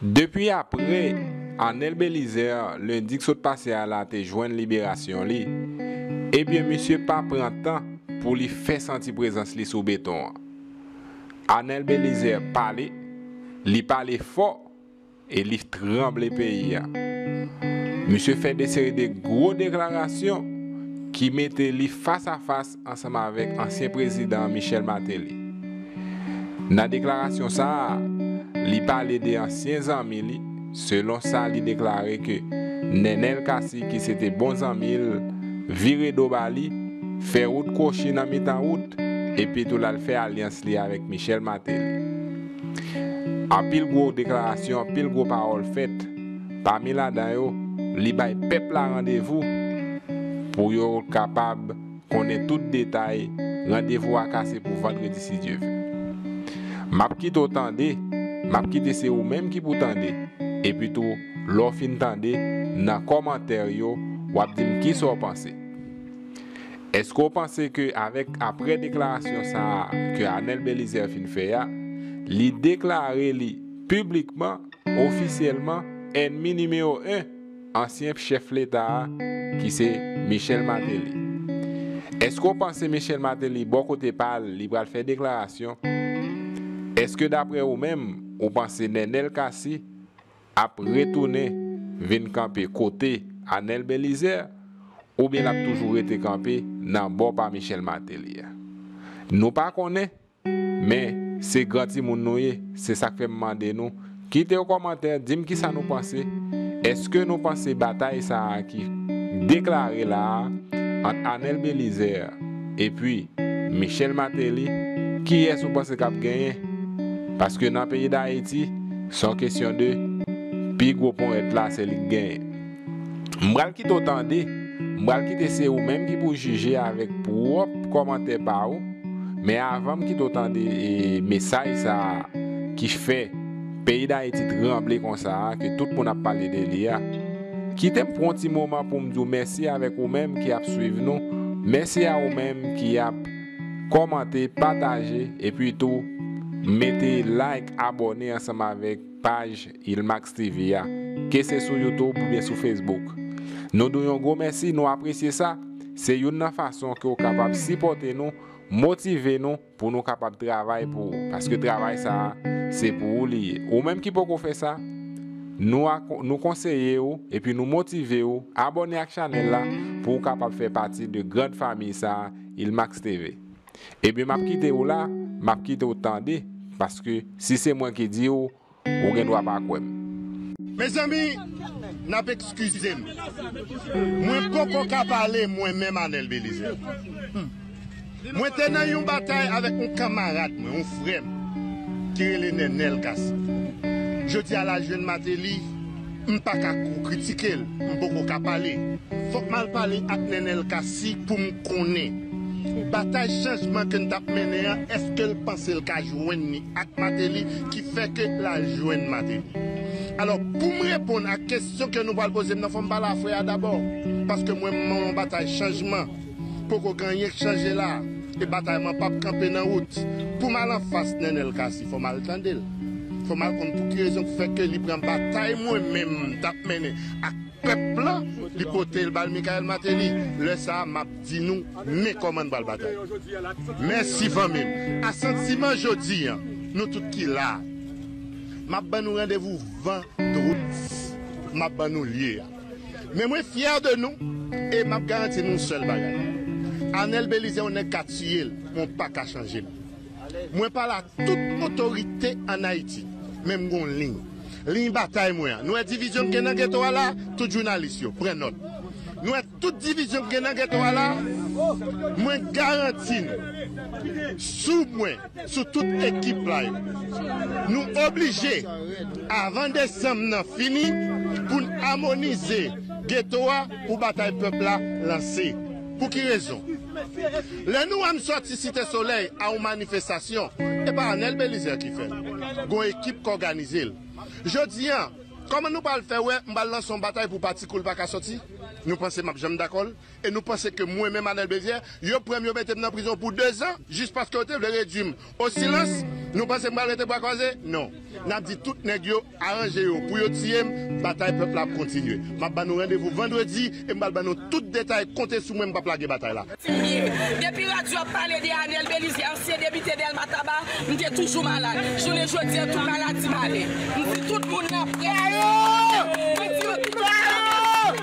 Depi apre Arnel Belizaire lendi k sot pase a la te jwenn liberasyon li, ebyen misye pa pran tan pou li fè santi prezans li sou beton an. Arnel Belizaire pale, li pale fò e li tranble peyi a. Misye fè de seri de gwo deklarasyon ki mete li fas a fas ansanm avèk ansyen prezidan Michel Martelly. Nan deklarasyon sa a, li pale de ansyen zanmi li, selon sa li deklare ke Nenel Cassy ki se te bon zanmi l, vire do ba li, fè wout kwochi nan mitan wout, epi tou l al fè alyans li avèk Michel Martelly. Anpil gwo deklarasyon, anpil gwo pawòl fèt, pami ladan yo, li bay pèp la randevou pou yo kapab. konnen tout detay randevou a ka se pou vandredi si Dye vle. Map kite w tande, map kite se ou menm ki pou tande, epi tou lè w fin tande nan kòmantè yo wap di m kisa w panse. Eske w panse ke avèk aprè deklarasyon sa a ke Anèl Belizaire fin fè a, li deklare li piblikman, ofisyèlman ènmi nimewo 1? ansyen chèf leta a ki se Michel Martelly. Eske w panse Michel Martelly bò kote pa l li pral fè deklarasyon? Eske daprè ou menm ou panse Nenel Cassy ap retounen vin kanpe kote Anel Belizaire oubyen l ap toujou rete kanpe nan bò pa Michel Martelly a? Nou pa konnen. Men, se gran timoun nou ye, se sa k fè m mande nou, kite yon kòmantè, di m kisa nou panse, èske nou panse batay sa a ki deklare la a ant Anel Belizaire epi Michel Martelly, kiyès ou panse k ap genyen? Paske nan peyi Dayiti, se yon kesyon de pi gwo ponyèt la se li k genyen. M pral kite w tande, m pral kite se ou menm ki pou jije avèk pwòp kòmantè pa ou, men avan m kite w tande mesaj sa a ki fè peyi Dayiti tranble konsa a ke tout moun ap pale de li a, kite m pran w ti moman pou m di w mèsi avèk ou menm ki ap swiv nou, mèsi a ou menm ki ap kòmante, pataje epi tou mete like, abòne ansanm avèk. paj Ilmax TV a, ke se sou YouTube oubyen sou Facebook. Nou di w yon gwo mèsi, nou apresye sa, se youn nan fason ke w kapab sipòte nou, motive nou pou nou kapab travay pou ou, paske travay sa a, se pou ou li ye. Ou menm ki poko fè sa, nou nou konseye ou epi nou motive ou abòne ak chanèl la pou ou kapab fè pati de grand famiy sa a, Ilmax TV. Ebyen map kite ou la, map kite ou tande paske si se mwen ki di ou, ou gen dwa pa kwè m. Mezanmi nap ekskize m mwen poko ka pale mwen menm Anel Belizaire. Mwen te nan yon batay avèk yon kanmarad mwen, yon frè m ki rele Nenel Cassy. Jodi a la jwenn Martelly. M paka ko kritikel m poko ka pale fok mal pale ak nenel cassy poum konnen batay chanjman ke n tap mennen an eskel pansel ka jwenn ni ak mateli ki fè ke lal jwenn mateli alò poum reponn ak kesyon ke nou pral pozem nan fòm pale a frè a dabò paske mwen m nan yon batay chanjman. Poko gen anyen k chanje la e batay man pap kanpe nan wout poum al anfas Nenel Cassy fòm al tandel fòm al konn pouki rezon k fè ke li pran batay mwen menm m tap mennen ak pèp lan li potel bal Michael Martelly lè sa map di nou men kòman n pral batay mèsi fanmim asantiman jodi an nou tout ki la map ban nou randevou vandredi map ban nou lye a. Men mwen fyè de nou e map garanti nou yon sèl bagay Anel Belize yon nèg ka tiyel men w paka chanjel mwen pale a tout otorite an Ayiti men m gon liy liy batay mwen an nou wè divizyon k gen nan geto a la tout jounalis yo pran nòt nou wè tout divizyon k gen nan geto a la mwen garanti nou sou mwen. sou tout ekip la yo. Nou oblije avan desanm nan fini pou n amonize geto a pou batay pèp la lanse. Pou ki rezon? Lè nou wè m sòti Site Solèy a yon manifestasyon, e pa Anèl Belizè ki fè l. Gon ekip k òganize l. Jodi a, kòman nou pral fè wè m pral lanse yon batay pou pati kou l pa ka sòti? Nou panse m ap janm dakò l? E nou panse ke mwen menm Anel Bezier, yo pran m yo mete m nan prizon pou 2 zan jis paske yo te vle redui m o silans? Nou panse m pral rete bwa kwaze? Non. N ap di tout nèg yo aranje yo pou yo tiye m, batay pèp la ap kontinye. M ap ba nou randevou vandredi e m pral ban nou tout detay, konte sou mwen m p ap lage batay la. Siye, depi radyo ap pale de Anel Belizier, ansyen depite Dèlma Taba, m te toujou malad. Jounen jodi an tou maladi m ale. M di tout moun nan près yo, mwen di yo tout sa m ap di.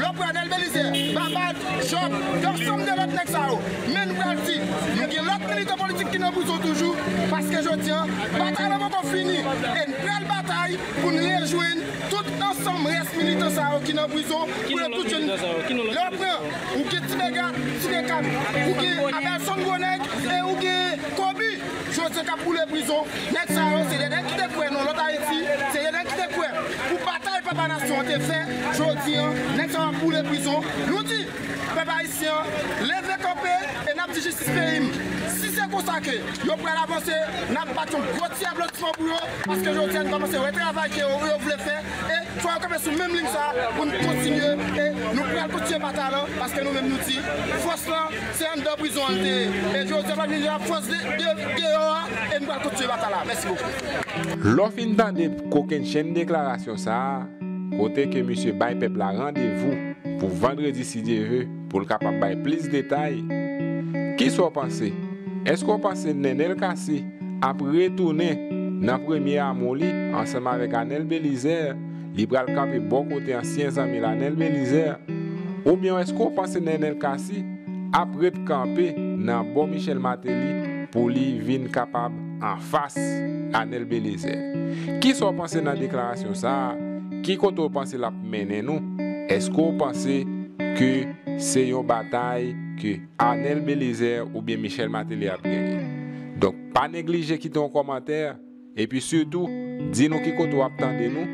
Lò Pradel Belizaire, Babad, Job, yon sonm de lòt nèg sa yo, men nou pral di nou gen lòt militan politik ki nan prizon toujou paske jodi an batay la poko fini e n pral batay pou n rejwenn tout ansanm rès militan sa yo ki nan prizon pou yo tout jwenn Lè w pran, ou gen Tibega, Tibekam, ou gen Abelson Gwonèg e ou gen Kobi. Jodye kap boule prizon nèg sa yo se de nèg ki te kwè nan lòt ayiti se de nèg ki te kwè pou batay papa nasyon an te fè jodi an nèg sa yo ap boule prizon nou di pèp ayisyen an leve kanpe e nap di jistis peyi m si se konsa ke yo pral avanse nap bat yon gwo ti aplodisman pou yo paske jodi a nou kòmanse wè travay ke yo vle fè e fò yo kanpe sou menm liy sa poun kontinye e nou pral kontinye batay lan paske nou menm nou di fòs lan. Se anndan prizon an l te ye e jodi a lap vin la France deyò a e nou pral kontinye batay la. Mèsi bokou. Lè w fin tande kokennchenn deklarasyon sa a, kote ke misye bay pèp la randevou pou vandredi si Dye ve pou l kapab bay plis detay, kisa w panse? Eske w panse Nenel Cassy ap retounen nan premye amou li ansanm avèk Anel Belizaire Li pral kanpe bò kote ansyen zanmi l a Nènèl Belizaire oubyen èske w panse Nènèl Cassy ap ret kanpe nan bò Michel Martelly pou li vin kapab anfas a Nènèl Belizaire? Kisa w panse nan deklarasyon sa a? Ki kote w panse l ap mennen nou? Èske w panse ke se yon batay ke Arnel Belizaire oubyen Michel Martelly ap genyen? Donk pa neglije kite yon kòmantè. Epi sitou, di nou ki kote w ap tande nou,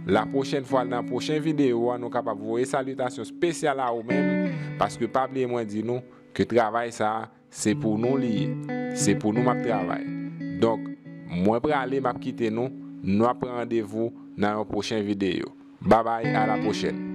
la pwochèn fwa nan pwochen videyo a nou kapab voye salitasyon spesyal a ou menm, paske pa bliye mwen di nou ke travay sa a se pou nou li ye, se pou nou m ap travay. Donk, mwen prale m ap kite nou, nou ap pran randevou nan yon pwochen videyo. Babay a la pwochèn!